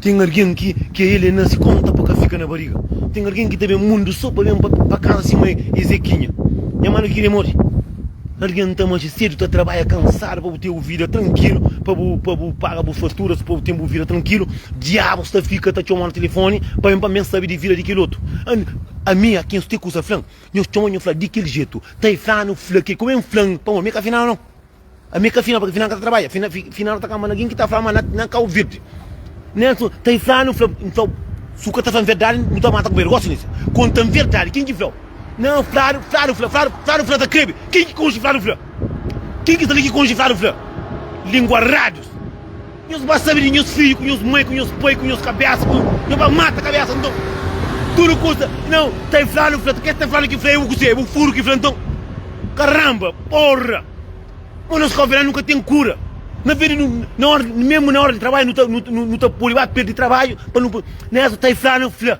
Ten argen ki ke el e nase konta pa ka fika na bariga. Ten argen ki ta ben mundu so pa ben pa kasa sima es e kinha. Nha manu kiri mori. Argen ta manxe sedu ta trabaya kansadu pa bu ten bu vida trankilu pa bu pa bu paga bu faturas pa bu ten bu vida trankilu diabus ta fika ta txomanu telefoni pa ben pa mi ben sabi di vida di kel otu an ami a ken su te kusa flan nhos txoma nho fla di kel jetu ta e flanu fla ke kome nflan pamo mi ka fla nau nau. Ami ka fina paki fina ka ta trabadja fina fina ta kama algin ki ta fla ma na kau virdi Nelson ta fla nu fla nfla su ka ta fla verdadi nu ta mata kubedu gosi nisi kontan verdadi kin ki flau na fladu fladu fla fladu fladu fla ta krebi kin ki konxi fladu fla kin ki ta li ki konxi fladu fla lingua radius. Nhos ba sabe di nhos fidju ku nhos mai ku nhos pai ku nhos kabésa ku nhos ba mata kabésa nton tudu kusa nau ta infladu fla ta kê ta infladu ki fla ê bu kuzê ê bu furu ki fla nton karanba porra mo nos kófia la nu ka ten kura na vê di nu na óra memu na óra di trabadju nu ta nu ta nu ta pode ba perde trabadju pa nu na ês ta inflanu fla.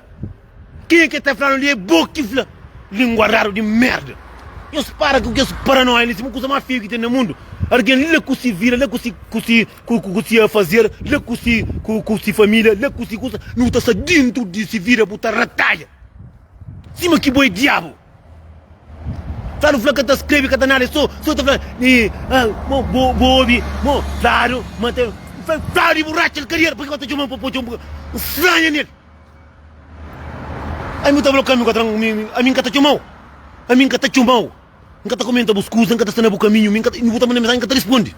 Quem é que tá falando ali é bo ki fla lingua raro di merda nhos para ku kes paranoia li sima kusa ma feio ki ten na mundu argen la ku si vida la ku si ku si ku si afazer la ku si ku ku si familia la ku si kusa nu ta sta dintru di si vida bu ta rataia sima ki bo é diabu sa nu fla ka ta skrebe ka ta nada é so so ta fla e ah mo bo bo obi mo fladu ma ta fladu e bu ratxel kariera paki ba ta txomau pa po txomu stranja nel. Ai bu ta fla ka mi ka tra mi ami nka ta txomau ami nka ta txomau nka ta kumenta bus kuza nka ta sta na bu kaminhu mi nka ta bu ta manda mensagem nka ta responde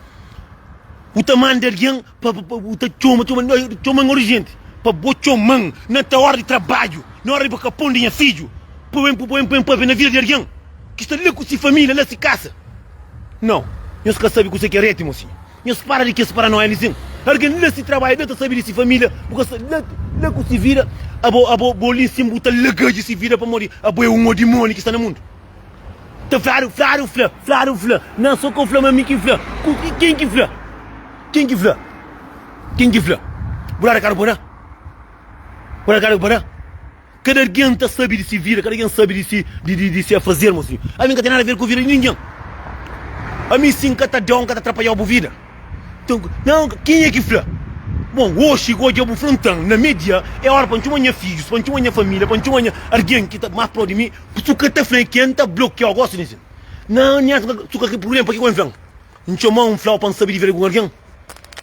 bu ta manda algen pa pa bu ta txoma txoma txoman urgente pa bo txoman na ta ora di trabadju na ora di bu kapon di nha fidju pa bu pa bu enpape na vida di algen ki sta la ku si familia la si kasa nau nhos ka sabi kuse ki é retimo si. Nhos para di kes paranoia mi sim argen la si trabadja la ta sabi di si familia bu ka sa la la ku si vida abo abo bo li sim bu ta lagaji si vida pamodi abo é un odimoni ki sta na mundu ta fladu fladu fla fladu fla na so ka fla ma mi ki fla ku ki ken ki fla ken ki fla ken ki fla bu la da kadu pa na bu la da kadu pa na. Kada algen ta sabe di si vida, kada algen sabe di si di si afazer, Mo Sinho. Ami N ka ten nada ver ku vida di ningen. Ami si N ka ta dau, N ka ta atrapalhau bu vida. Nton, nan, kenha ki fla? Bon, oxi, ku odja bu fla nton, na me-dia, é óra pa N txoma nha fidjus, pa N txoma nha família, pa N txoma nha algen ki ta más pró di mi. Su ka ta fla é ken ta blokiau gosi di sin. Nan, nha N ka ta txuka kel prubléma. Pakiko N fla-m? N txomau, N flau pa N sabe di vida di algun algen.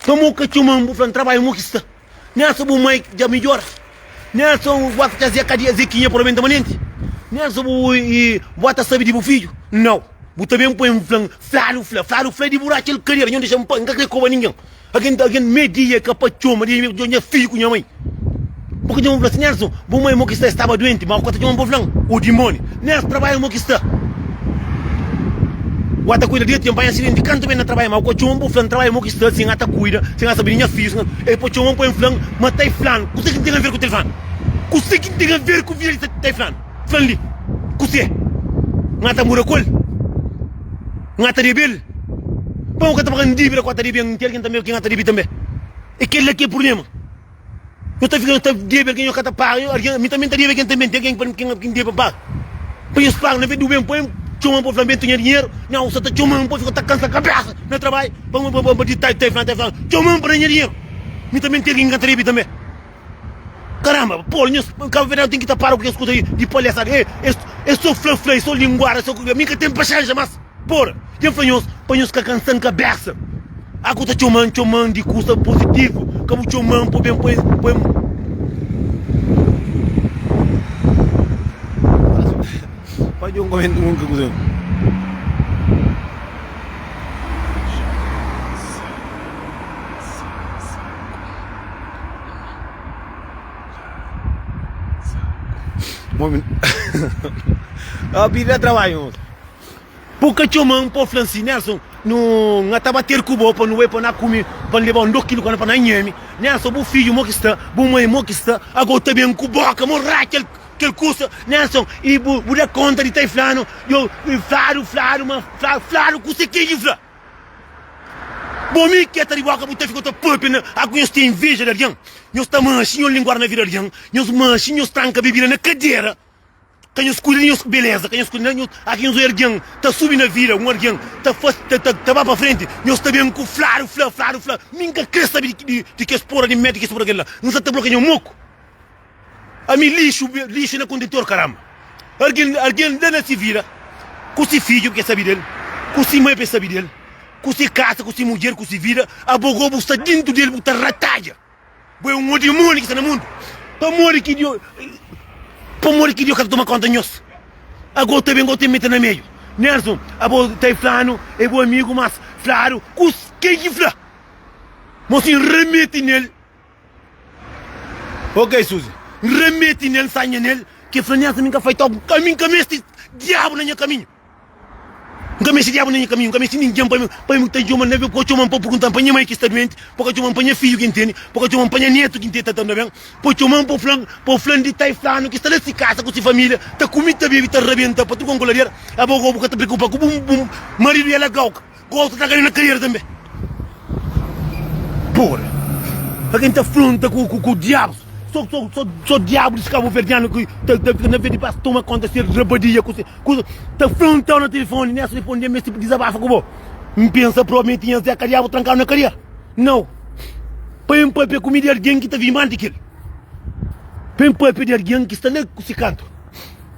Pamodi N ka txoma-m? Bu fla-m trabadja, mo ki sta. Nha so bu mai dja midjora Nha so bu ba fitxa zé kadia zé kinha polo menta manenti Nha so bu i ba ta sabi di bu fidju nau bu ta ben poi-m fla-m fladu fla fladu fla di bu ratxa el kadera nho dexa-m pa nka kre koba ningen agen agen me dia ka pa txoma dia mi djo nha fidju ku nha mai bu ka dja-m fla si nha so. Bu mai mo ki sta estaba duenti ma kota txoman bo flan o dimoni nes trabaya mo ki sta u ata kuida dia ti npanha asidenti kantu ben na trabaya ma kua txoman bo flan trabaya mo ki sta sin ata kuida sin ata sabe di nha fiju el pa txoman pa en flan ma tai flan kuse kin ten aver ku tel flan kuse kin ten aver ku vida di tai flan flan li kuse nga ta mura kuel nga ta debel pa nka ta pagan dibida kua ta debe ntel kin tanbe ki nga ta debe tanbe e kel la ki e purblema. Yo ta fika ta debe algen, yo ka ta paga. Algen, mi tanbê N ta debe algen tanbê. N ten algen pa mi ki N debe paga. Pa nhos paga, na vez di yo ben pa mi, txoma-m pa fla-m, Ben, ta nha dinheru. Nha usa ta txoma-m pa fika ta kansa kabésa na trabadju, pa mi ba ba di ta ta fla-m, ta fla-m, Txoma-m pa da nha dinheru. Mi tanbê N ten algen ki N ta debe tanbê. Karanba, Pol, nhos kabuverdianu ten ki ta para ku kes kuza di palestra. Es es so fla-fla, es so linguada, es so. Mi ka ten paxénxa más. Por ken fla nhos pa nhos ka kansa-n kabésa. A ku ta txoma-n, txoma-n di kusa pozitivu, ka bu txoma-n pa ben poi-n, poi-n. Fadja un komentáriu, un konkluzon. Mon. Pidi-l da trabadju. Pô ka txoma-m, pô fla-m si, Nelson, nu, nha ta ba ter ku bo pa nu bai pa na kume, pa N leba-u N doki-lu ka na pa na nhe-me. Nelson, bu fidju mo ki sta, bu mai mo ki sta, ago bu ta ben ku boka mo ra kel kel kusa, Nelson, i bu bu da konta di ta i fla-nu, yo i fla-lu, fla-lu, ma fla-lu, fla-lu ku serteza i fla bo mi ki e ta di boka bu ta fika ta pâpia na ago nhos ten inveja di algen, nhos ta manxi nhos linguar na vida di algen, nhos manxi nhos tranka bebida na kadera. Ka nhos kuida di nhos beleza, ka nhos kuida di nhos. Aki nhos oja algen ta subi na vida, un algen ta fase, ta, ta, ta ba pa frenti, nhos ta ben ku fladu fla, fladu fla, mi N ka kre sabe di, di, di kes pora, di mete kes pora kel la, N sa ta blokia nha moku. Ami lixu, lixu na kontentor karanba. Algen, algen da na si vida, ku si fidju pa ke sabe del, ku si mai pa e sabe del, ku si kasa, ku si mudjer, ku si vida, abo, gobu sta dintu del bu ta ratadja. Bo é un odimoni ki sta na mundu. Pamodi ki Dios Pamodi ki Dios ka ta toma konta nhos? Ago ta ben, bo ta mete na meiu. Nelson, Abo ta e flanu é bo amigu, mas fladu kus ken ki fla mo si N rameti nel. Ok, Suzy, N rameti nel, N sanha nel. Ke fla Nelson, mi ka fai tok, ami N ka mesti diabu na nha kaminhu. N ka meste diabu na nha kaminhu, N ka meste ningen pa pa mi ta txoma-m na ben, pa ka txoma-m pa purgunta-m pa nha mai ki sta duenti, pa ka txoma-m pa nha fidju ki N tene, pa ka txoma-m pa nha netu ki N tene ta ta-m na ben, pa txoma-m pa fla-m, pa fla-m di tai flanu ki sta la si kasa ku si familia ta kume, ta bebe, ta rabenta pa tudu kon ku lader, aba gobu ka ta preokupa ku bu maridu i alagau-k. Ku otu ta kade na kadeira tanbe. Pura. Pa ken ta fronta ku diabus. So diabus di kabuverdianu ki ta fika na verde pas toma konta se rabadia ku se kusa ta frontau na telefoni nes telefoni dja meste pa dizabafa ku bo. N pensa propi mi tinha Zeka diabu trankau na kadeira. Nau. Pa N papia ku mi di algin ki ta vimba anti kel. Pa N papia di algin ki sta la ku se kantu.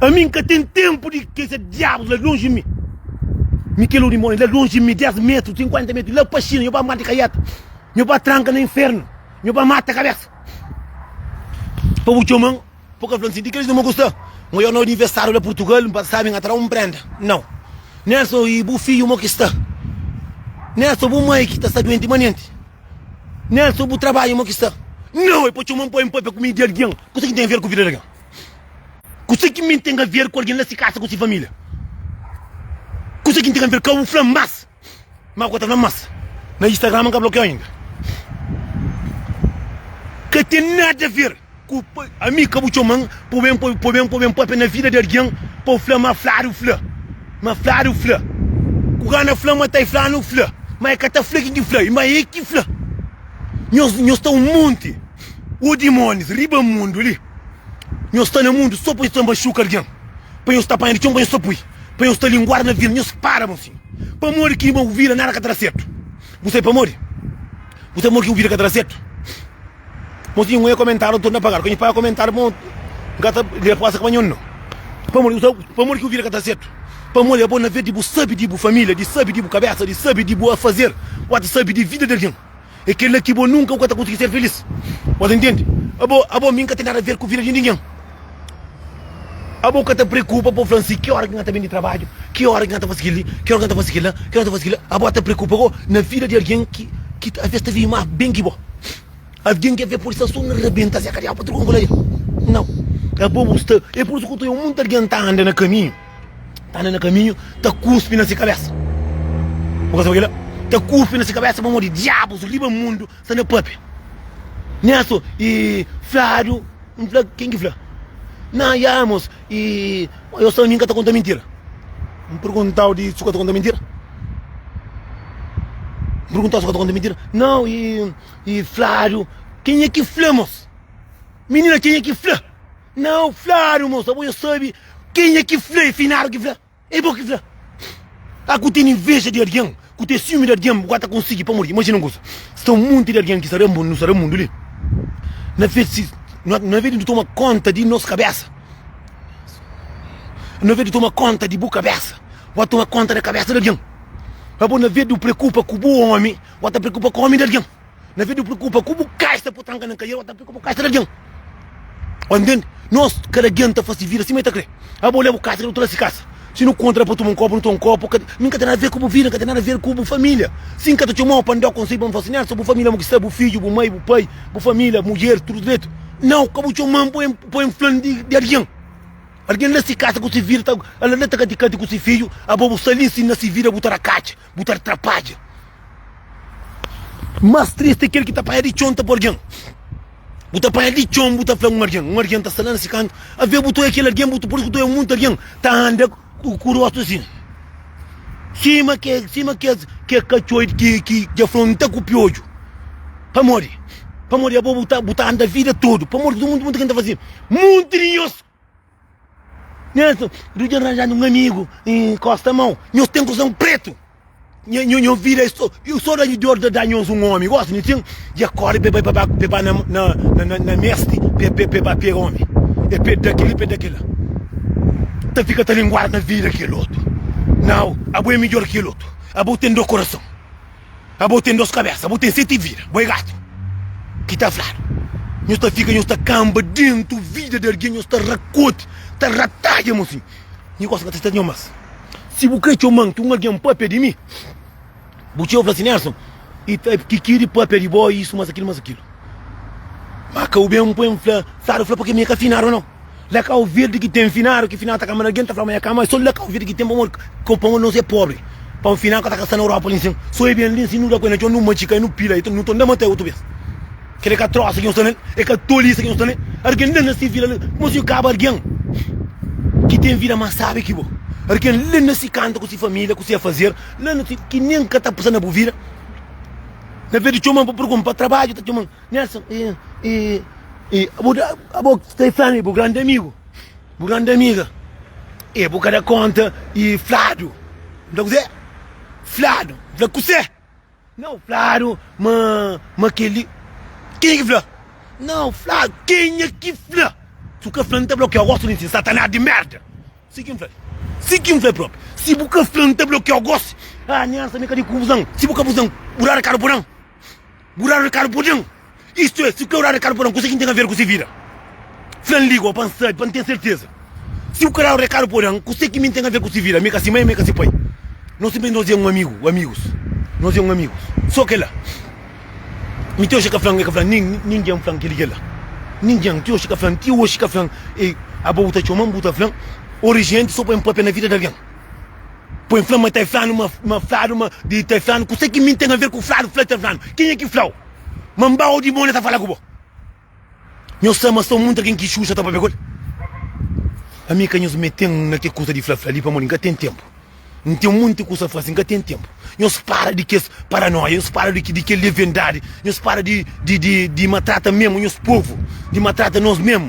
Ami n ka ten ténpu di kes diabus la lonji mi. Mi kel odimon é la lonji mi, 10 métru, 50 métru, la pa Xina, nho ba morde kaiata, nho ba tranka na infernu, nho ba mata kabésa. Pa bu txoman, bu ka fla-m sin, di kel-li nu ba gosta? Mo yo na universáriu la Purtugal, n pasa sábi, n atrau un prénda. Nau. Nelson, i bu fidju mo ki sta? Nelson, bu mai ki ta sta duenti manenti? Nelson, bu trabadju mo ki sta? Nau, é pa txoman poi-m pâpia ku mi di algen. Kuzê ki ten aver ku vida di algen? Kuzê ki mi ten aver ku algen na si kasa ku si família? Kuzê ki N ten aver ka bu fla-m más? Má ku ta fla-m más na Instagram N ka blokia-u inda Ka ten nada aver ku ami ka bu txoma-m pa bu ben pa bu ben pa bu ben pâpia na vida di algen pa bu fla-m má fladu fla má fladu fla ku ka na fla-m má ta fladu fla má e ka ta fla kin ki fla i má e ki fla nhos nhos ta un monti. Ô dimónis, riba mundu li. Nhos sta na mundu sô pa nhos ta maxuka algen, pa nhos ta panha di txon, pa nhos ta pui, pa nhos ta linguada na vina. Nhos para bon sima. Pamodi ki ma bu vida nada ka ta da sertu? Bu sabe pamodi? Bu sabe pamodi ki bu vida ka ta da sertu? Mon tinha un e-komentáriu anton na pagadu. Ka nhos paga komentáriu mon N ka ta lé resposta ki ba nhon no. Pamodi bu sabe pamodi ki bu vida ka ta da sertu? Pamodi é bo na vez di bu sabe di bu família, di sabe di bu kabésa, di sabe di bu afazer, bu ba ta sabe di vida di algen. É kel-la ki bo nunka bu ka ta konsigi ser filís. Bo ta intende? Abo, abo, mi N ka ten nada ver ku vida di ningen. Abo ka ta preokupa pa bu fla-m si ki óra ki N ta ben di trabadju, ki óra ki N ta fase kel-li, ki óra ki N ta fase kel-la, ki óra ki N ta fase kel-la. Abo ta preokupa go na vida di algen ki ki talvês ta vive más ben ki bo, algen ki alvês pode sta sô na rabenta se kadial pa trokon ku la el. Nau. Abo bu sta. É pur isu ki bu ta obi munti algen ta anda na kaminhu. ta anda na kaminhu ta kuspi na si kabesa bu ka sabe kila ta kuspi na si kabesa pamodi diabus riba mundu sta na papia nha so i fladu n fla ken ki fla na ya mos i yo sabe mi n ka ta konta mintira n perguntau di su ka ta konta mintira n perguntau si ka ta konta mintira nau i fladu kenha ki fla mos minina kenha ki fla Não flaru moça bo já sabe quem é ki fla é finado ki fla é bo ki fla a ku tem inveja de alguém ku tem ciúme de alguém bu ka ta konsigi pamodi imagina um coisa sta um monte de alguém ki sta rambon nu sta rambon do li na vez si na vez de nu toma conta de nos cabeça na vez de toma conta de bu cabeça bu a toma conta da cabeça de alguém abo na vez de preocupa ku bu homem bu a ta preocupa ku homem de alguém Na vez di bu preokupa ku bu ka sta potranka na kaiel, ta preokupa ku ka sta di algen. Oi ntende? Nos, kada algen ta fasi vida sima el ta kre. Abo leba ka sta di otu si kasa. Si nu kontra pa tuma un kopu, nu toma un kopu. Ka, mi ka ten nada ver ku bu vida, ka ten nada ver ku bu familia. Si N ka ta txomau pa N dau konsei, pa N fla si, Nelson, bu familia mo ki sta, bu fidju, bu mai, bu pai, bu familia, mudjer, tudu dretu. Nau, ka bu txoman po N, po N flan di, di algen. Algen la si kasa ku si vida, ta, ala la ta kati-kati ku si fidju, abo bu sta li, si na si vida bu ta da katxi. Bu ta atrapadja Más tristi é kel ki ta panha di txon ta pa algen Bu ta panha di txon bu ta fla un algen Un algen ta sta la na se kantu a vê-bu Tu é kel algen bu ta poi-s ku tu é munti algen Ta anda ku rostu asin Sima ke sima kes kes katxoi ki ki dja fronta ku piodju Pamodi pamodi abo bu ta bu ta anda vida tudu Pamodi tudu munti munti ken ta faze munti di nhos. Nhas du dja ranjanu un amigu enkosta mou nhos ten kusa un pretu nho vida e so da dor da da nhos un omi gosi nho tin dja kori be bai ba be ba na mesti be ba pega omi e pe da kili pe da kila ta fika ta linguar na vida kel otu nau abo e midjor kel otu abo ten do korason. Abo ten dos kabésa, abo ten seti vida, bo é gatu ki ta fladu. Nhos ta fika nhos ta kanba dentu vida di algen, nhos ta rakoti, ta ratadja mo sin. Nhi gosi ka ta seta nho mas. Si bu kre txoma nti un algen pâpia di mi, bu txeu fla si, Nelson, i ta ki-ki di pâpia di bo, i isu, mas akil, mas akil. Má ka bu ben poi-m fla, Sadu fla, pâpia mi é ka finadu nau. La Kau Verdi ki ten finadu ki final ta kama algen ta fla ma ya kama so La Kau Verdi ki ten pamodi kau pamodi nos é pobri pa un final ka ta kasa na Europa li nsin so e ben li nsin nu da ku e na txon nu matxika e nu pila e nu ta nda mata e otu bes kel é ka trosa ki nos ta ne é ka tolisa ki nos ta ne algen la nasi vila la kuma si nu kaba algen ki ten vida mas sabi ki bo algen la nasi kanta ku si familia ku si afazer la nasi ki nen ka ta pasa na bu vida na verdi txoman pa pergun pa trabadju ta txoman. Nelson, i, i, i, bu ta, abo tem fome, bu grande amigo, bu grande amiga, e bu ka da conta, i fladu, bu ta kuzê? Fladu, bu fla kusê? Nau, fladu ma, ma keli, kenha ki fla? Nau, fladu, kenha ki fla? Si bu ka fla, N ta blokiau, gosi di ti, satanás di merda! Si ki N fla-l, si ki N fla-l propi, si bu ka fla, N ta blokiau, gosi, ah, Nelson, mi ka di ku buzan, si bu ka buzan, bu da rakadu, bu nan. Bu dadu rekadu pa algen? Istu é, si ku eu dadu rekadu pa algen, kuse ki N ten aver ku se vida? Fla N liga-u pa N sabe, pa N ten serteza. Si bu ka dadu rekadu pa algen, kuse ki mi N ten aver ku se vida? Mi ka se mai, mi ka se pai. No sinplesmenti nos é un amigu, amigus. Nos é un amigus, so kela. Mi ti oxi ka fla-m, e ka fla-m, nin ningen fla-m kel i kela. Ningen, ti oxi ka fla-m, ti oxi ka fla-m, e aba bu ta txoma-m, bu ta fla-m, orijenti so pa e-m papia na vida di algen. Poi fla ma ta flanu ma ma fladu ma di ta flanu kusa ki mi ten aver ku fladu fla ta flanu kenha ki flau ma mba odi bo na ta fala ku bo nho sa ma so munta ken ki xuxa ta papia kul ami ka nhos meten na ke kusa di fla fla li pamodi nka ten tempu nten munti kusa fasi nka ten tempu nhos para di kes paranoia nhos para di di kel levendadi nhos para di di di di matrata memu nhos povu di matrata nos memu.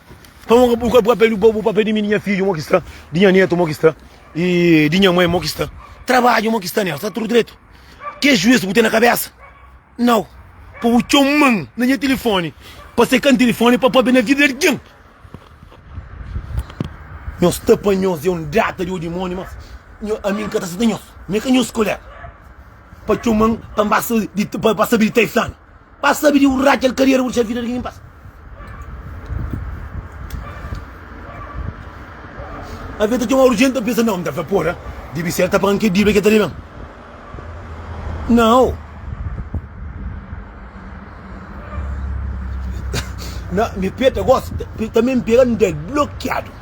Pa onra bu ka papia di bo bu papia di mi di nha fidju mo ki sta di nha netu mo ki sta y di nha mãe mo ki sta trabadju mo ki sta nel sta tudu dretu kes juez bu ten na kabesa nau pa bu txoman na nha tilifoni pa se ka tilifoni pa papia na vida di algin nhos sta pa nhos é un data di odimoni mas nho ami nka ta seta nhos mi ka nhos kolega pa txoman pa nbasa pa sabi di ta e flanu. Pa sabi di un radja el ka riera bu disa vida di kin pasa Alvês ta txomau urjenti ta pensa nau N ta fla pora dibi ser ta pagan ke dibida ke ta deben nau Na mi pé ta gosi tanbe N pega N da-l blokiadu.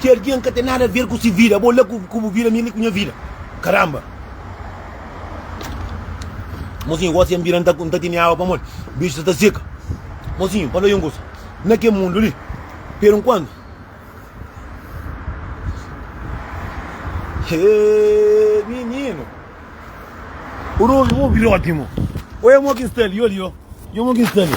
Ki algen ka ten nada ver ku si vida bo la ku bu vida mi li ku nha vida karamba mozinhu gosi ya nbira nta tene awa pamodi biju sa ta seka mozinhu fala un kusa na ke mundu li per nkuantu hee mininu obi roti mo oe mo ki sta li yo li yo yo mo ki sta li.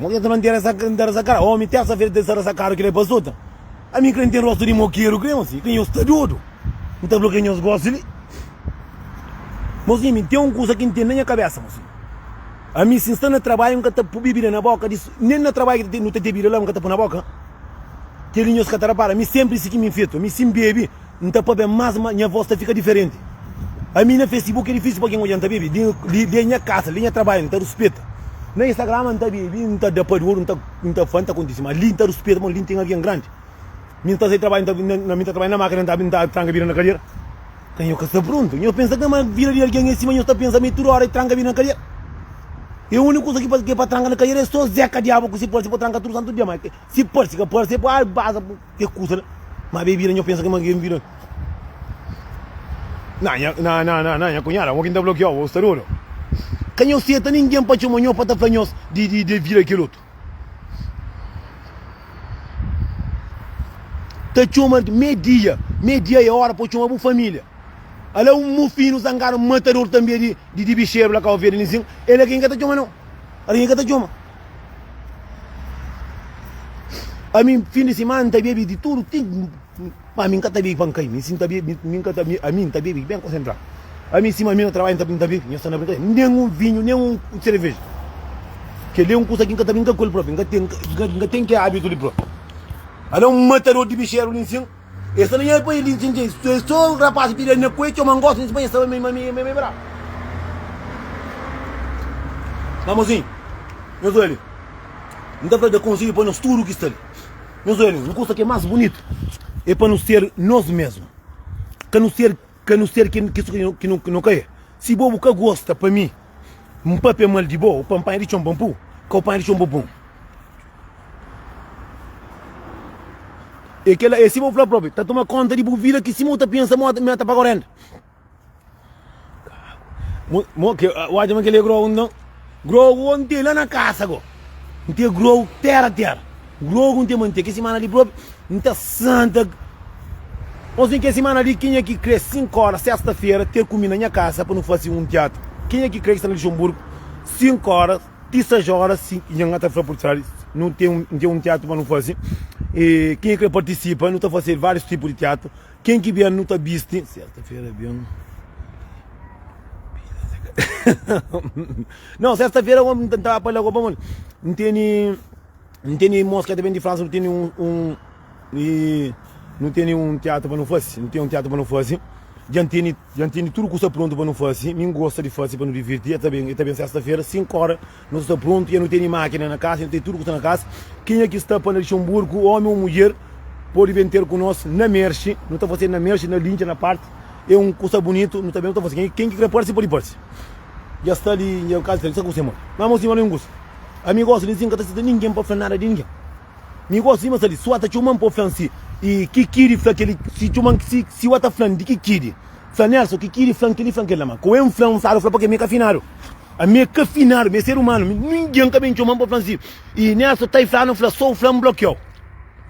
Modi anta mantera sa anta rasa kara omi tersa fera tesa rasa kara kila pa sota ami kre ntem rosto di mokeru kre osi kre nhos ta dodu nta fla kre nhos gosi li mosi mi ntem um kusa ki ntem na nha kabesa mosi ami si nsta na trabalho nka ta pu bebida na boka di nen na trabalho nu ta te bebida la nka ta pu na boka keli nhos ka ta rapara mi sempri si ki mi fetu ami si nbebi N ta pa ben mas ma nha vos ta fika diferenti Ami na Facebook é difísil pa algen odja N ta bebe li Li é nha kasa, li é nha trabadju N ta ruspeta Na Instagram N ta bebe, N ta da pa dôru N ta fla, N ta kontise ma li N ta ruspeta ma li N ten algen grandi Mi N ta sai trabadju, N ta trabadja na mákina N ta N ta tranka vida na kadera Ka nha ka sta prontu Nhos pensa ka ma vida di algen é sima nhos ta pensa ma é tudu óra é tranka vida na kadera É úniku kuza ki pa ki é pa tranka na kadera é sô Zeka Diabu ku se parse pa tranka tudu santu dia ma si parse ka parse é pa baza Kes kusa la ma bebida nho pensa ma kel bida na nha na na na na nha cunhada mo kin ta blokiau bo sta dodu ka nho seta ninguém pa txoma nho pa ta fla nhos di di de vida kel otu ta txoma me dia me dia e ora po txoma bu familia ala um mufino zangado matador tanbe di di di bixeru la cabo verde ninsin ela kin ka ta txoma nho ala kin ka ta txoma Ami fin di simana n ta bebe di tudu ti ma ami n ka ta bebe pa n kai mi si n ta bebe mi n ka ta bebe ami n ta bebe ben konsentradu ami sima ami na trabadju n ta bebe mi nhos sta na brinkadeira nen un vinhu nen un sereveja kel li é un kuza ki n ka ta brinka ku el propi n ka ten n ka ten kel abitu li propi alé un matador di bixeru li nsin E sta na nha pais li ntinti e so rapaz ki pidi nha kue txoma ngosi nes bai nha sta bai ma mi bai bra ma mozinhu nhos oja li nta fla da konselhu pa nos tudu ki sta li nhos oja li un kusa ki e mas bunitu e pa nos ser nos mesmu ka nos ser. Ka nu ser kes ki nu ka é. Si bo bu ka gosta pa mi N papia mal di bo, u pa N panha di txon pa N pu ka u panha di txon pa bu pun É kela é sima bu fla propi Ta toma konta di bu vida ki sima u ta pensa ma mi ta paga u renda Mo ke u atxa ma kel é grogu nton Grow go nte la na kasa go nte grow tera tera grow go nte mante ke simana li propi nta santa nos nte ke simana li kenha ki kre sink ora sesta fera ter ku mi na nha kasa pa nu fasi un teatru kenha ki kre sta na lixonburgu sink ora ti sais ora si nha nga ta fla por tradi nu nte nte un teatru pa nu fasi e kenha kre partisipa nu ta fasil varius tipu di teatru. Ken ki ben nu ta bisti. Nau sesta-fera omi nu ta entraba pa lagoa pamodi nu teni nu teni irmons ki e ta ben di Fransa nu teni un un i nu teni un tiatru pa nu fasi nu teni un tiatru pa nu fasi dja N teni dja N teni tudu kusa prontu pa nu fasi mi N gosta di fasi pa nu divirti e ta ben e ta ben sesta-fera sinku óra Nu sta prontu, ja nu tene mákina na kasa, ja nu tene tudu ku sta na kasa. Kenha ki sta pa na dexa un burku, ómi ô mudjer, pode ben ter ku nos na Mershi. Nu ta fase na Mershi, na Lincha, na Parti. É un kusa bunitu, nu ta ben, nu ta fase. Ken ki kre parse, pode parse. Ja sta li, dja kazi sta li, nu sta ku se modi. Má mos sima li un kusa. Ami gosta li si, N ka ta seta ningen pa fla-m nada di ningen. Mi gosta sima sta li. Si Wa ta txoma-m pa fla-m si i ki ki di fla kel-li, si txoma-m, si, si Wa ta fla-m di ki ki di fla Nelson, ki ki di fla-m kel-li, fla-m kel-la. Má kau N fla-m, N sabe fla, pake mi é kafinadu. Ami é ka finadu, mi é ser umanu, mi ningen ka ben txoma-m pa fla-m si i nel so ta i fla-nu fla so u fla-m blokiau.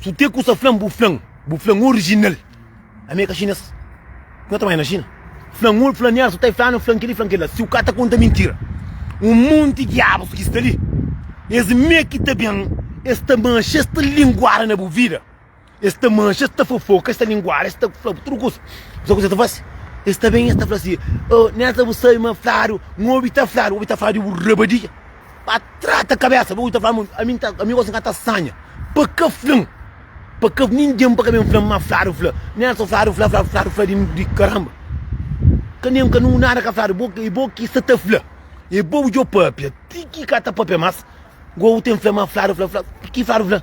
Su te ku sa fla-m bu fla-m, bu fla-m orijinal. Ami é ka xinês, ki no ta mai na Xina. Fla-m u fla-m nel so ta i fla-nu fla-m kel-li fla-m kel-la si u ka ta konta mintira. Un monti diabus ki sta li, es mê ki ta ben es ta manxa, es ta linguada na bu vida. Es ta manxa, es ta fofoka, es ta linguada, es ta fla bu tudu kuza. Sabe kuzê es ta fase? Es ta ben, es ta fla si, Oh, Nélson, bu sabe ma fladu, N obi ta fladu, obi ta fla di bu rabadia. Pa trata kabésa, bu obi ta fla ma ami N ta, ami gosi N ka ta sanha. Pa ka fla-m, pa ka, ningen pa ka ben fla-m ma fladu fla. Nélson, fladu fla, fladu, fladu fla di karanba. Ka nen, ka nu, nada ka fladu, bo, é bo ki sta ta fla. É bo bu djobe pâpia, ti ki ka ta pâpia más, gosi bu ten fla ma fladu fla, fla, ki fladu fla?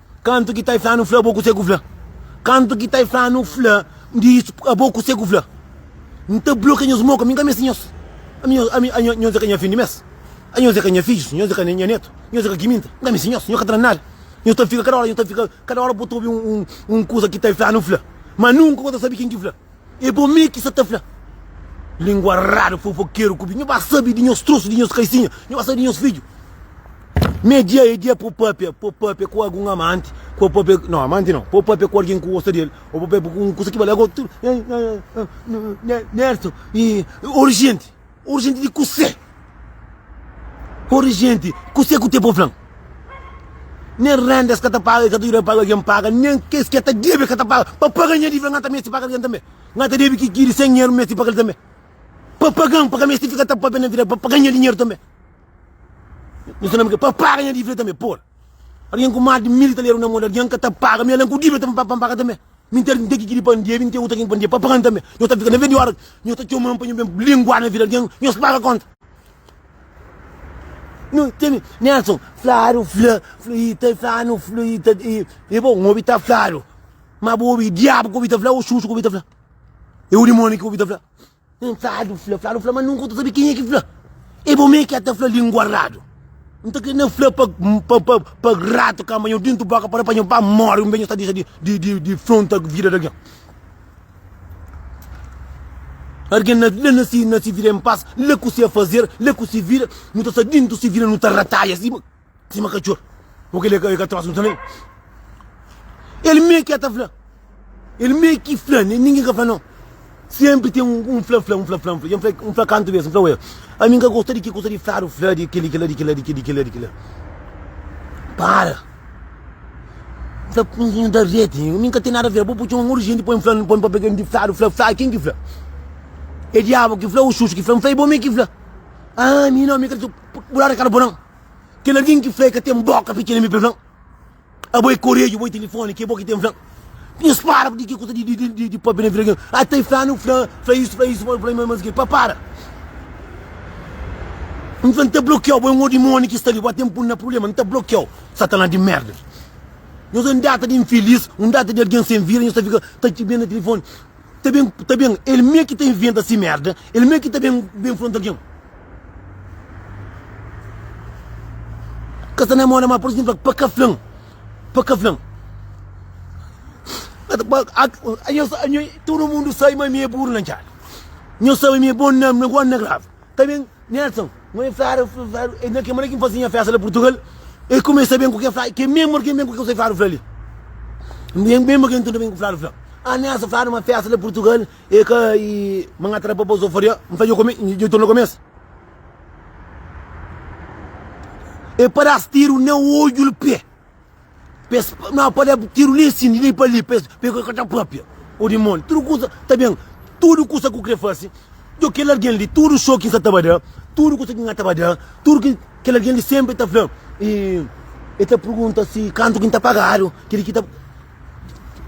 Kantu ki ta i fla-nu fla, bo kuse ku fla? Kantu ki ta i fla-nu fla di isu, abo kuse ku fla? N ta blokia nhos moka, mi ka meste nhos. Ami nhos, ami, ami, nhos e ka nha fin di mes. Ami nhos e ka nha fidjus, nhos e ka nha netu, nhos e ka ki minta. N ka meste nhos, nhos ka tra nada. Nhos ta fika kada ora, nhos ta fika kada ora bo ta obi un, un, un kusa ki ta i fla-nu fla, ma nunka bo ta sabe kin ki fla. É bo mê ki sa ta fla. Lingua radu fofokeru ku bi. Nho ba sabi di nhos trosu, di nhos kaisinha. Nho ba sabi di nhos fidju. Mê dia é dia po papia. Po papia ku algun amanti. Po papia, no amanti no. Po papia ku algen ku gosta di el. O po papia ku un kusa ki bali. Ago tudu, Nerson, urjenti. Ora genti di kusé Ora genti kusé ku tebon flan Nen renda es ka ta paga e ka ta juda paga algen paga Nen kes ki e ta debe e ka ta paga Pa paga nha divida nga ta mesti paga algen tanbe Nga ta debe kiki di sen dinheru mesti paga el tanbe Pa pagan pa ka mesti fika ta papia na vida Pa paga nha dinheru tanbe Nu sta na merkadu Pa paga nha divida tanbe Por algen ku mas di mil italianu na modi algen ka ta paga Mi algen ku divida ta ben pa paga tanbe. Mi ter nte ki ki di pandia, mi nte uta kin pandia pa pagan tambe. Nhos ta fika na vedi ora nhos ta txoman pa nho ben lingua na vida algen, nhos paga konta. Nu tene Nelson fladu fla fla i ta flanu fla i ta i e bo n obi ta fladu ma bo obi diabu ku obi ta fla o xuxu ku obi ta fla e o dimoni ku obi ta fla. Nen fladu fla fladu fla ma nunka u ta sabe kenha ki fla e bo mê ki a ta fla lingua radu n ta kre na fla pa pa pa pa ratu ka manha u dintu boka para pa nho ba more un be nho sta dexa di di di fronta vida da gen argen na la na si na si vida em pas la ku se fazer la ku si vida nu ta sta dintu si vida nu ta rataia si Sima katxor Ô kel li é ka tróximo tanbe El mê ki el ta fla El mê ki fla Nen ningen ka fla no Sénpri ten un fla-fla Un fla-fla Un fla-fla Un fla kantu bes Un fla ué ami N ka gosta di ki gosta di fladu Fla di kel-li kel-la di kel-la di kel-li kel-la di kel-la Para N fla N fla N ta rete mi N ka ten nada fla bo bu txoma un monti di jenti poi-m fla poi-m pa pega-m di fladu Fla fla ken ki fla É diabu ki fla ô xuxu ki fla N fla é bo mê ki fla Aa mi no mi ka ta txu Bu ladu é ka ta bo nan. Kel algen ki fla el ka ten bóka fitxa na mi pa el fla-m, Abo é koredju, abo é tilifóni, ki é bo ki ten fla-m. Nhos para ku ki kusa di pâpia na vida algen. A ta fla-m nu fla isu, fla isu, fla isu, más ki el. Pa para! N fla-l, N ta blokia-u, bo é un odimóni ki sta li, bo ka ten pô-nu na prubléma. N ta blokia-u, Satanas di mérda. Nhos é un data di infilís, un data di algen sen vida, nhos ta fika ta txibia na tilifóni. ta ben ta ben el mê ki ta inventa si merda el mê ki ta ben ben fronta algen ka sta na moda ma por izenplo pa ka flan pa ka flan nho nho todo mundo sabe ma mi é burro na djada nho sabe mi é bom na na grave Ta ben Nelson, nho ben fla ra fla fla e na ke manera ki nfazi nha festa la Portugal e kumesa ben ku ke fla ke memo ke ben ku ke kusai fla ra fla li me memo ke ntuda ben ku fla ra fla ah Nelson fla ma festa la Portugal e ka e ma nha tra pa pa Zofaria nfla djo kome djo torna komesa e padas tiru na odjul pe. Pa es nau pa da-bu tiru li si li pa li pa es pega ku ta papia o dimoni tudu kusa ta ben tudu kusa ku kre fase djo kel algen li tudu xoki nsa ta ba da tudu kusa ki nha ta ba da tudu ki kel algen li senpri ta fla i e ta pergunta si kantu ki nta pagadu kili ki ta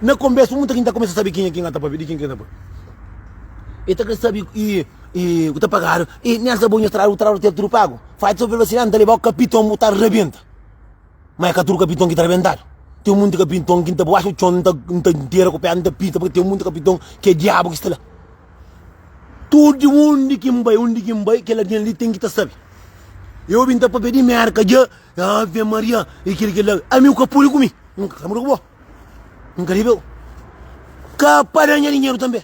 na konbesa un ta ki ta kumesa sabe kenha ki nha ta papia di ken ki nha ta papia e ta kre sabe i i ku ta pagadu i nel ta bo nha strada bu strada ta tedu tudu pagu fati so vel vasilanti nta lebau kapiton bu ta rebenta. Ma é ka tudu kapiton ki ta rebentadu. Ten monti kapiton ki N ta bu axa txon, N ta ntera ku pé, N ta pita, purka ten monti kapiton ki é diabu ki sta la. Tudu undi ki N bai, undi ki N bai, kel algen li ten ki ta sabe. Eu bin ta papia di Merka dja, Ave Maria, e kel ki el da. Ami u ka pudi ku mi, N ka ta muda ku bo, N ka debe-u ka pa da nha dinheru tanbe.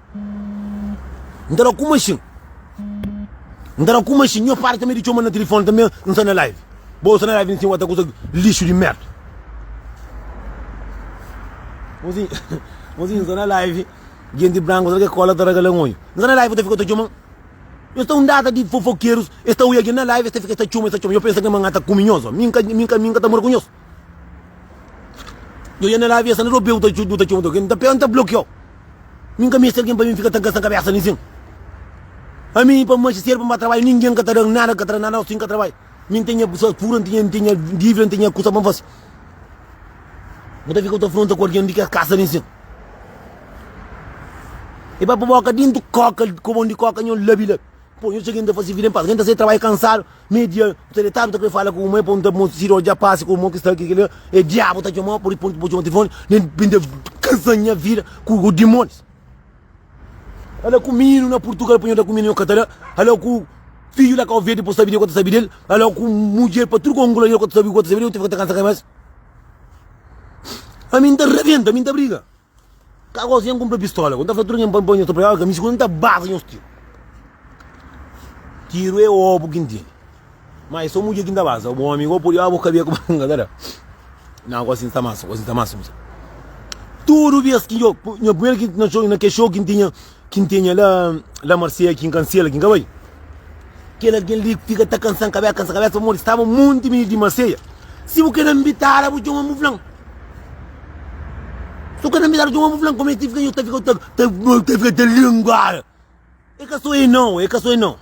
N ta da ku maxin N ta da ku maxin Nho pai tanbe di txoma-m na tilifoni Tanbe N sta na live Bo sta na live nsin wata kusa lixu di merda Mozinhu Mozinhu N sta na live Genti branku Será ke kola ta ragala-m odju? N sta na live ta fika ta txoma-m Nhos ta un data di fofokerus Es ta oi algen na live Es ta fika es ta txoma-m Es ta txoma-m Nho pensa ke ma N ata ku mi nhos? Min ka Min ka Min ka ta mora ku nhos Yo ya na la avesa na do pé-u ta txuti, bu ta txoma ta ke. N ta pé-u, N ta bloke-u. Mi N ka meste algen pa mi fika ta gasta kabesa na isin. Ami i pa manxe sedu pa N ba trabadja, ningen ka ta da-m nada, ka ta da nada aos ki N ka trabadja. Mi N tenha pessoas pura, N tenha, N tenha dívida, N tenha kusa pa N fase. Bu ta fika bu ta fronta ku algen di kes kasa na isin. E ba pa boka dintu koka, kobon di koka nha labi-labi. Pô, nhos txeu ki n ta fase vida en pas. Ken ta sai trabadja kansadu, mei dia, n ta detadu, n ta krê fala ku kuma-i, pô, n ta mo sida odja pase ku irmon ki sta ki la, é diabu ta txoma-u, pur i pontu ki bo txoma tilifoni, nen pa N ta kansa nha vida ku ku dimonis. Ala ku minu na Purtugal, pa nho da ku minu, nho ka ta da, ala ku fidju la Kau Verdi, pô, sabi di el, ku el ta sabi di el, ala ku mudjer pa tudu ku Angola, el ku el ta sabi, ku el ta sabi di el, nhu ta fika ta kansa ka-i más. Ami, N ta rabenta, mi N ta briga. Ka gosi nhen kunpra pistola ku n ta fla tudu nhen pa n ponha nhos ta pregaba kamisa ku n ta basa nhos tiru. Tiru e obu ki n tene. Ma e so mudjer ki n ta basa. Bu omi go pudi obu kabia ku banga ta da. Na gosi n sta mansu, gosi n sta mansu misa. Tudu bes ki nho, nha primeru ki na ke xou ki n tinha. Ki N tenha la, la marseia ki N ka N sela, ki N ka bai. Kel algen li fika ta kansa-m kabesa, kansa-m kabesa, pamodi staba monti mininu di marseia. Si bu ka na nbitara bu txoma-m bu fla-m. Si bu ka na nbitara bu txoma-m bu fla-m. Kome ki fika yo ta fika ta fika ta lê-m góra. E ka so e nau, e ka so e nau.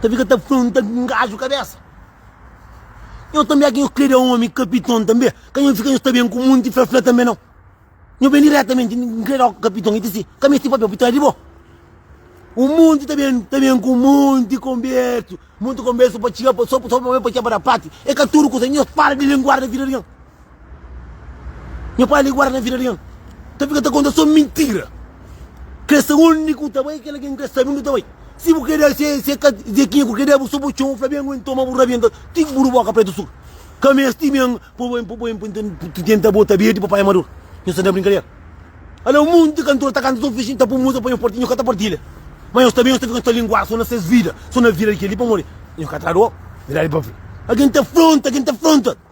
Ta fika ta fronta ku un gaju kabesa Nho tanbe aki nho krede omi kapiton tanbe ka nho fika nho sta ben ku monti flafla tanbe nau Nho ben diretamenti n krede omi kapiton ita si ka mesti papia pita di bo Un monti ta ben ta ben ku monti konbersu Monti konbersu pa txiga pa so so pa ben pa txiga pa da pati E ka tudu kusa nho para di lenguar na vida di algen Nha pai li guarda na vida di nha ta fika ta konta so mintira. Kresa undi ku ta bai kel algen kre sabi undi ta bai. Si bu keda se se ka zekinha ku keda bu so bu txon flabi angue ntoma bu rabienta ti ku bu du boka pretu suru. Ka mesti ben po ben po ben pa tenta bota bedi pa pai madura. Nhos ta na brinkadera. Ala munti kantor ta kanta so fixi ta pun musa pa nhos parti nhos ka ta partilha. Ma nhos ta ben nhos ta fika nhos ta linguada so na ses vida so na vida di kel li pamodi nhos ka ta da dor. Verdadi pa fla. Algen ta fronta algen ta fronta.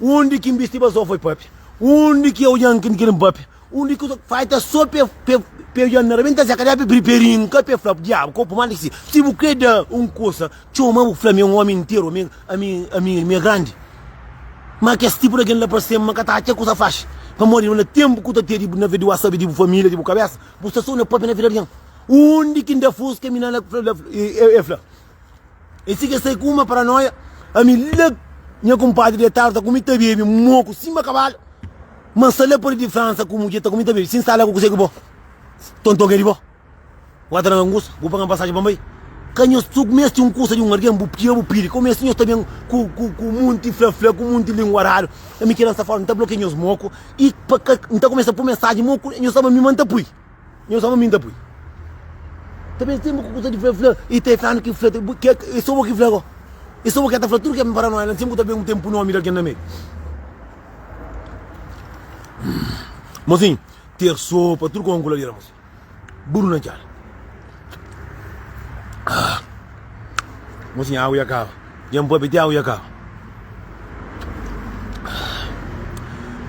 Undi ki N bisti pa so foi papia Undi ki ojan N kiri N papia Undi ki ojan Fai ta so pe pe pe ojan na rabenta Zé ka da pe bri pe rin ka pe flap Diabu kopu mal di ki si Si bu kre da un kusa Txoma bu fla mi un omi interu Ami ami ami mi e grandi Ma kes tipu di algen la pa sem ma ka ta atxa kusa faxi Pamodi na tenpu ku ta te di bu na ve di bu asabi di bu familia di bu kabesa Bu sta so na papia na vida di algen Undi ki N da fuska mi na la e e fla. E si ke sai ku uma paranoia Ami lak nha kunpadri detadu ta kumi ta bebi moku sima kabalu Ma n sa la pari di Fransa ku mudje ta kumi ta bebi Si n sta la ku kuzê ki bo tonton ke di bo Wata na ngus bu paga-m pasaji pa n bai Ka nhos tu ku meste un kusa di un algen bu tira bu piri Ka bu meste nhos ta ben ku ku munti fla-fla ku munti lingua radu Ami ki lansa fora n ta blokia nhos moku i pa ka N ta kumesa pui mensaji moku nhos sta pa mi ma n ta pui. Nhos ama mi, N ta pui. Ta ben tenba ku kusa di fla, fla. I ta fla-nu ki fla. E so bo ki fla ko. E so bo ki e ta fla tudu ke ben para noi la. N sibi ku ta ben un tenpu nomi di algen na medu. Mosinhu, terso pa tudu kon ku ladera, mosinhu. Buru na djal. Ah. Mocinha, água ya kaba. Djen pôpi ti água ya kaba.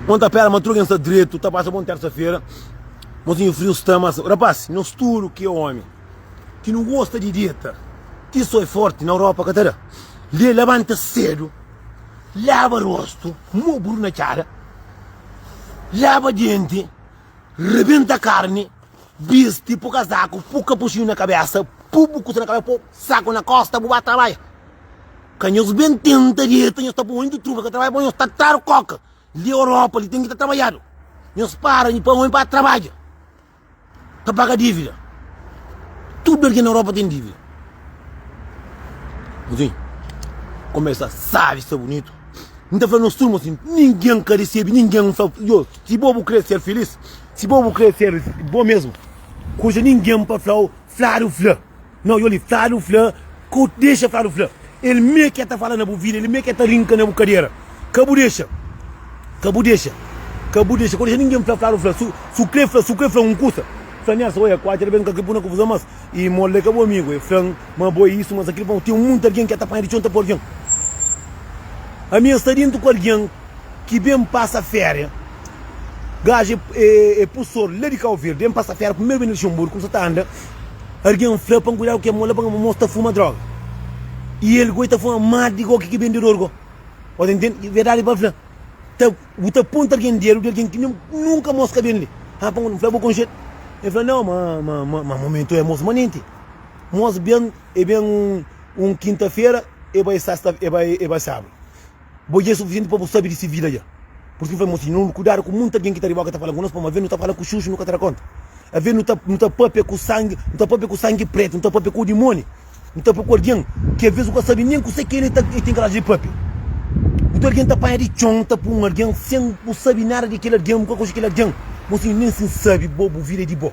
Mon ta pera, ma tudo alguém está direito. Tá passa bom terça-feira. Mozinho frio está, mas rapaz, nós tudo que é homem, que não gosta de dieta, que sou forte na Europa, catará. Lê, levanta cedo, lava rosto, mobro na cara, lava dente, rebenta carne. Bisti pu kazaku pu kapuxinhu na kabesa pu bu kusa na kabesa pu saku na kosta bu ba trabadja ka nhos ben tenta dieta nhos ta poi ondi truba ka trabadja pa nhos ta traru koka li europa li ten ki ta trabadjadu nhos para nho pa ome pa trabadja ta paga divida tudu algen na europa ten divida nhos ben komesa sabi sta bunitu nta fla nos turma si ninguem ka resebi ninguem nfla yo si bo bu kre ser filis Si bo bu kre ser bo mesmu kuja ningen pa flau fladu fla no yo li fladu fla ko dexa fladu fla el me ke ta fala na bu vida el me ke ta rinka na bu kadera ka bu dexa ka bu dexa ka bu dexa ko dexa ningen fla fladu fla su su kre fla su kre fla un kusa fla nels oia kuaci el ben ka kre puna kufuzon mas i molde ka bu amigu e flan ma bo e isu mas akil fla ten munti algen ke ta panha di txon ta pua algen ami e sta dintu ku algen ki ben pasa feria. Gaji é, é, é pustor lá di Cabo Verde. Bem passa fera, primeiro bem Luxemburgo, começou tá anda. Alguém fla para cuidado que é mola para moço tá fuma droga. E ele goi tá fuma mais de qualquer que vendedor go. Pode entender? Verdade para fla. Tá, o tá ponto alguém dele, de alguém que nem, nunca moço que vende. Ah, para um fla vou concher. Ele fala, não, mas, mas, mas, mas momento é moço manente. Moço bem, é bem um, um quinta-feira, é vai sexta, é vai, é vai sábado. Bo dja é sufisienti pa bu sabe di si vida dja. Pur sin, fla mo siñu, nu kudadu ku monti algen ki ta riba bo, ki ta fala ku nos, pamodi aves nu ta fala ku xuxu, nu ka ta da konta. Aves nu ta, nu ta pâpia ku sangi, nu ta pâpia ku sangi prétu, nu ta pâpia ku dimóni, nu ta pâpia ku algen ki aves nu ka sabe nen kusé ki el é, ta, el ten korajin di pâpia. Nton algen ta panha di txon, ta pui un algen, sen bu sabe nada di kel algen, bu ka konxe kel algen. Mo siñu, nen si N sabe bo, bu vida é di bo.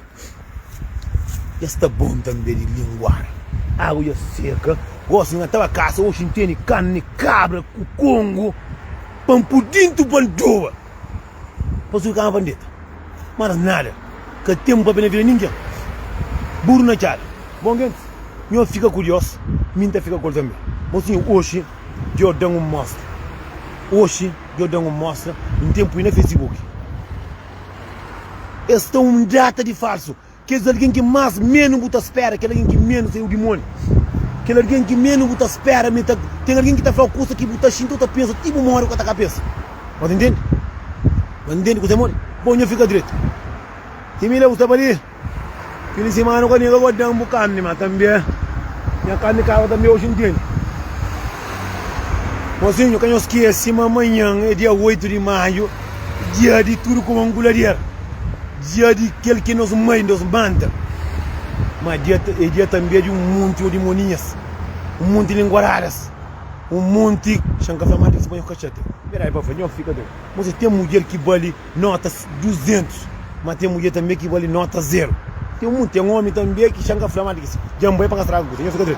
Dja sta bon tanbe di linguar Agu dja seka Gosi nha ta ba kasa Oxi N tene kanne kabra ku kongo Pa N pu dintu pa N doba Pa su kama pa N deta Mas nada ka ten papia na vida ningen Buru na txada Bon gentis Nho fika ku Dios Mi N ta fika ku el tanbe Bon sinhor Oxi djo dan un mostra Oxi djo dan un mostra N ten pui na fesibuki. Es ta un drata di falsu. Kes algen ki más ménus bu ta spera, kel algen ki ménus ta é udimóni. Kel algen ki ménus bu ta spera, mi ta. Ten algen ki ta fla kusa ki bu ta xinti ô ta pensa ti bu móre ô ka ta ka pensa. Bô ta intende? Bô ta intende kuzê móre? Bô, nha fika dretu. Ti mi la bu staba li. Kili simana ku amiga gosi dan bu carni ma tambe nha carni kaba tambe oji ntende. Mozinho ka nhos skesi ma manhan é dia 8 di maiu dia di tudu kuma un kulader dia di kel ki nos mai nos manda ma dia é dia tambe di un monti odimoninhas un monti linguaradas un monti xan ka fla ma ati ki spanhol ka txeta. Pera ai pa fla nhos fika ten. Mozinho ten mudjer ki bali nota 200 ma ten mudjer tanbe ki bali nota 0 ten omi tanbe ki xa n ka fla ma dja n bai pa ka straga kusa.